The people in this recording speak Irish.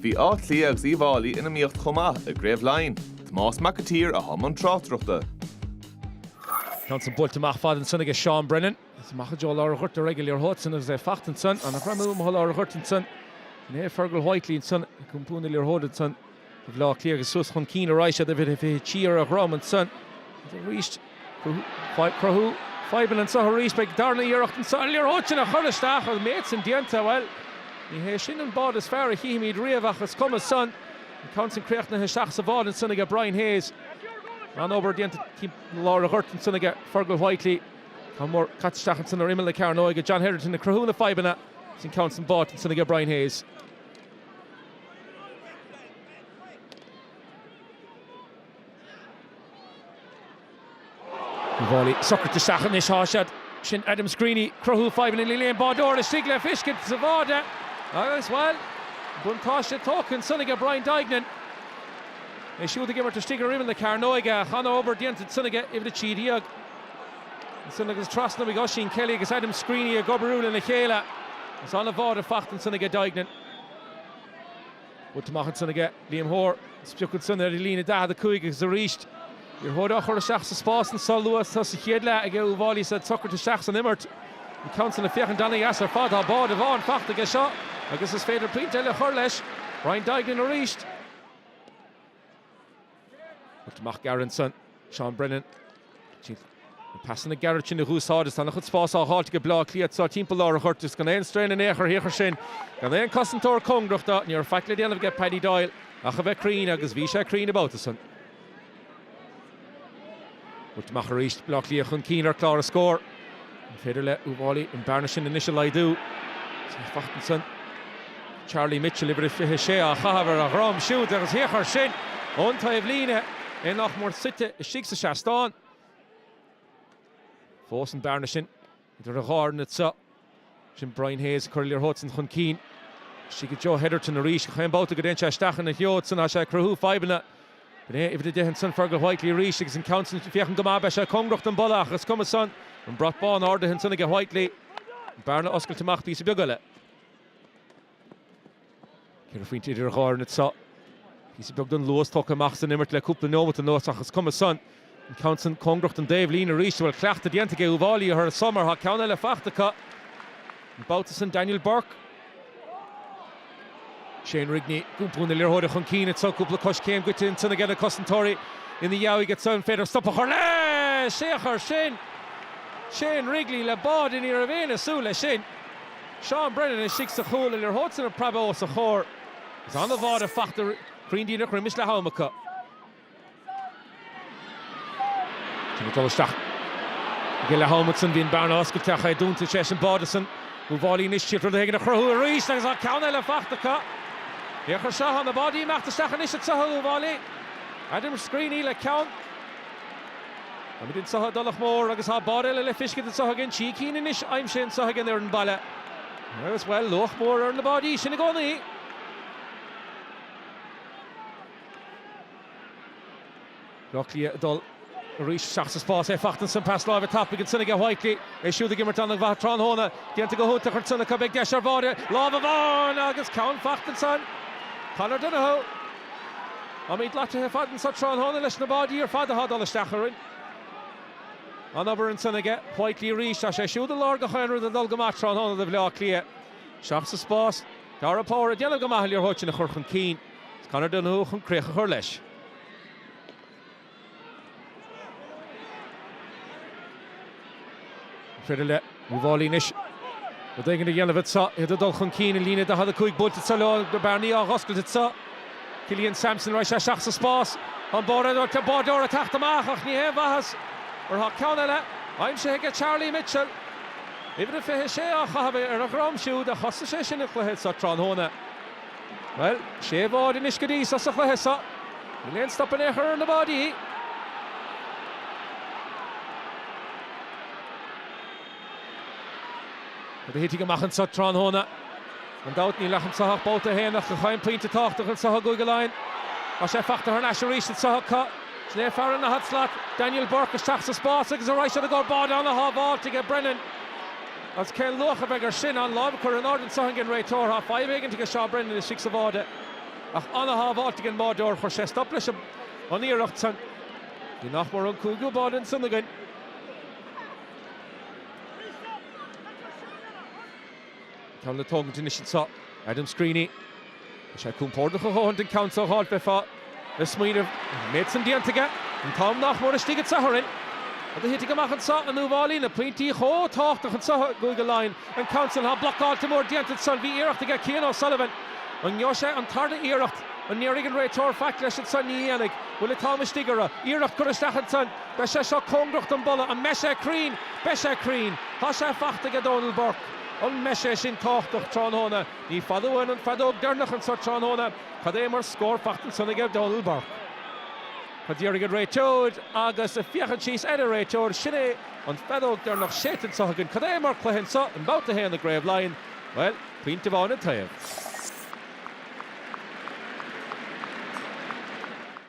Bhí Áth Cliath agus Uíbh Fháilí in iomaíocht chomh maith i gCraobh Laighean, Tomás Mac an tSaoir a thug an tráchtaireacht. An ceann san buailte amach fada ansan aige Seán Brennan. Is amach i dtreo lár an ghoirt ar aghaidh an liathróid san agus é fachta ansan. An-ghreim amuigh i lár an ghoirt ansan. Sin é Fergal Whitely ansan ag iompar na liathróide ansan. Tá Baile Átha Cliath suas chun cinn arís, uimhir a fiche trí ar a dhrom ansan arís. Ag cruthú fadhbanna anseo arís, beidh an darna iarracht anso ar an liathróid san a chur isteach. An méid san déanta, bhuel, ní hé sin an báide is fearr a chífimid riamh ach is cuma san. An ceann san críochnaithe isteach sa bháide ansan aige Brian Hayes. An-obair déanta timpeall lár an ghoirt ansan aige Fergal Whitely. Ceann mór caite isteach ansan ar imeall na cearnóige. John Hetherton ag cruthú na fadhbanna. Is an ceann san báite ansan aige Brian Hayes. Uíbh Fháilí socraithe isteach anois, tá siad sin Adam Screeney ag cruthú fadhbanna, níl aon bháideoir istigh le feiscint sa bháide agus, bhuel, buntáiste tógtha ansan aige Brian Duignan. É siúd ag imirt istigh ar imeall na cearnóige, an-obair déanta ansan aige uimhir a trí déag. Ansin agus trasna uaidh, Oisín Kelly agus Adam Screeney ag oibriú lena chéile. Agus an-bháide fachta ansan aige Duignan. Buailte amach ansan aige Liam Hoare. Is pioc ansan ar líne 45 agus arís an liathróid á chur isteach sa spás ansan luath sa chéad leath aige Uíbh Fháilí is iad socraithe isteach san imirt. An ceann san ag féachaint an-dheas ar fad. Tá báide amháin fachta aige seo agus is féidir pointe eile a chur leis. Brian Duignan arís. Buailte amach gearr ansan, Seán Brennan, na pasanna gearra sin a dh'úsáid is tá an-chuid spás á fháilt aige Bleá Cliath anso timpeall lár an ghoirt is gan aon strain in aon chor thiar sin. Gan aon cosantóir cóngarach do, ní raibh faic le déanamh aige Paddy Doyle ach a bheith cruinn agus bhí sé cruinn an babhta san. Buailte amach arís, Baile Átha Cliath chun cinn ar chlár na scór. An féidir le Uíbh Fháilí an bearna sin anois a laghdú. Tá fachta ansan. Charlie Mitchell, uimhir a 26, á chaitheamh ar a dhroim siúd agus thiocfadh air sin ón taobh líne, é nach mór suite istigh sa seastán. Fós an bearna sin. Idir an dhá fhoireann anso, sin Brian Hayes ag cur an liathróid san chun cinn. Isteach i dtreo Hetherton arís gach aon babhta go dtéann sé isteach ina threo san tá sé ag cruthú fadhbanna. Sin é uimhir a deich ansan Fergal Whitely arís agus an ceann san ag féachaint go maith. Beidh sé cóngarach don bpolla ach is cuma san. An brat bán ardaithe ansan aige Whitely. An bearna oscailte amach píosa beag eile. Ceithre phointe idir an dhá fhoireann anseo. Píosa beag den luas tógtha amach as an imirt le cúpla neomat anuas ach is cuma san. An ceann san cóngarach don dtaobh líne arís, an bhfuil cleachtadh déanta aige Uíbh Fháilí a chur air seo mar tá ceann eile fachta acu, an babhta san Daniel Bourke. Shane Rigney, ag iompar na liathróide chun cinn anseo, cúpla coiscéim goite ansan aige na cosantóirí ina dheabhaidh anseo, an féidir stop a chur leis! Is é a chur sin! Shane Rigney le báide ní raibh éinne ag súil leis sin. Seán Brennan istigh sa chúl an liathróid san ag preabadh os a chomhair. Is an-bháide fachta cruinn díreach roimis leath am acu. Sin ag dul isteach. Ag an leath-am acu san bhí an bearna oscailte ach é dúnta tar éis an báide san. Uíbh Fhailí anois ag triail rud éigin a chruthú arís agus tá ceann eile fachta acu. A thiarcais, tá na báidí ag imeacht isteach anois anso ag Uíbh Fhailí. Adam Screeney le ceann. Táimid anseo i dTulach Mhór agus tá báide eile le fiscint anseo againn trí cinn anois aimsithe anseo ag an fhoireann baile. Agus, bhuel, luach mór ar na báidí sin i gcónaí. Bleá Cliath ag dul arís isteach sa spás, é fachta ansin. Pas láimhe tapaidh ansin aige Whitely. É siúd ag imirt an-mhaith tráthnóna. Déanta go hiontach ansin acu. Beidh deis ar bháide. Lámh amháin agus ceann fachta ansin. Conor Donohoe. Táimid loitithe ar fad anso tráthnóna leis na báidí ar fad athá dul isteach orainn. An-obair ansan aige Whitely arís. Tá sé siúd i lár gach aon rud ag dul go maith tráthnóna do Bhleá Cliath, isteach sa spás. Darragh Power ag déanamh go maith an liathróid san a chur chun cinn, is Conor Donohoe chun críoch a chur leis. An féidir le Uíbh Fhailí anois. Rud éigin a dhéanamh anseo. Iad ag dul chun cinn i líne 45, buailte anseo leo. Na bearnaí á dh'oscailt anseo. Killian Sampson ar ais isteach sa spás. Tá an bearna oscailte, an báideoir ag teacht amach ach ní haon mhaitheas mar tá ceann eile aimsithe aige Charlie Mitchell. Uimhir a 26 á chaitheamh ar a dhroim siúd a thosaigh sé sin an cluiche anseo tráthnóna. Bhuel, sé bháide anois go dtí seo sa chluiche seo. Níl aon stop in aon chor ar na báidí. Rud a thitfidh amach anseo tráthnóna, gan dabht. Níl ach anseo ach babhta a haon, ach gach aon pointe tábhachtach anseo i gCúige Laighean. Tá sé fachta thar n-ais arís anseo acu. Sin é fear an daichead slat, Daniel Bourke, isteach sa spás agus ar aghaidh siar i gcomhair báide an-shábháilt aige Brennan. Agus cén luach a bheidh ar sin? An lámh á chur in airde anso ag an réiteoir. Fadhb éigint aige Seán Brennan istigh sa bháide. Ach an-shábháilt ag an mbáideoir. Chuir sé stop leis an iarracht san. Bhí nach mór an cúigiú báide ansan againn. Tá an ceann le tógaint anois anseo. Adam Screeney. Tá sé compordach a dhóthain don ceann seo a dh'fháilt, bheifeá ag smaoineamh. An méid san déanta aige, an t-am nach mór istigh anso orainn, rud a thitfidh amach anseo, in Uíbh Fhailí, na pointí chomh tábhachtach anseo i gCúige Laighean, an ceann san, tá blocáilt mór déanta ansan, bhí iarracht aige, Cian O'Sullivan, an ngeobhaidh sé an tarna iarracht, an ndéarfaidh an réiteoir faic leis ansan, ní dhéanfaidh, bhfuil an t-am istigh orthu, iarracht curtha isteach ansan, beidh sé seo cóngarach don bpolla, an mbeidh sé cruinn, beidh sé cruinn, tá sé fachta aige, Donal Burke, an mbeidh sé sin tábhachtach tráthnóna? Ní fada uainn an fheadóg dheireanach anseo tráthnóna. Cad é mar scór faighte ansan aige Donal Burke. Tá sé d'iarraidh an réiteoir agus ag féachaint síos ar an réiteoir, sin é an feadóg deireanach séidte anseo againn. Cad é mar cluiche anseo i mbabhta a haon i gCraobh Laighean. Bhuel, pointe amháin an taobh.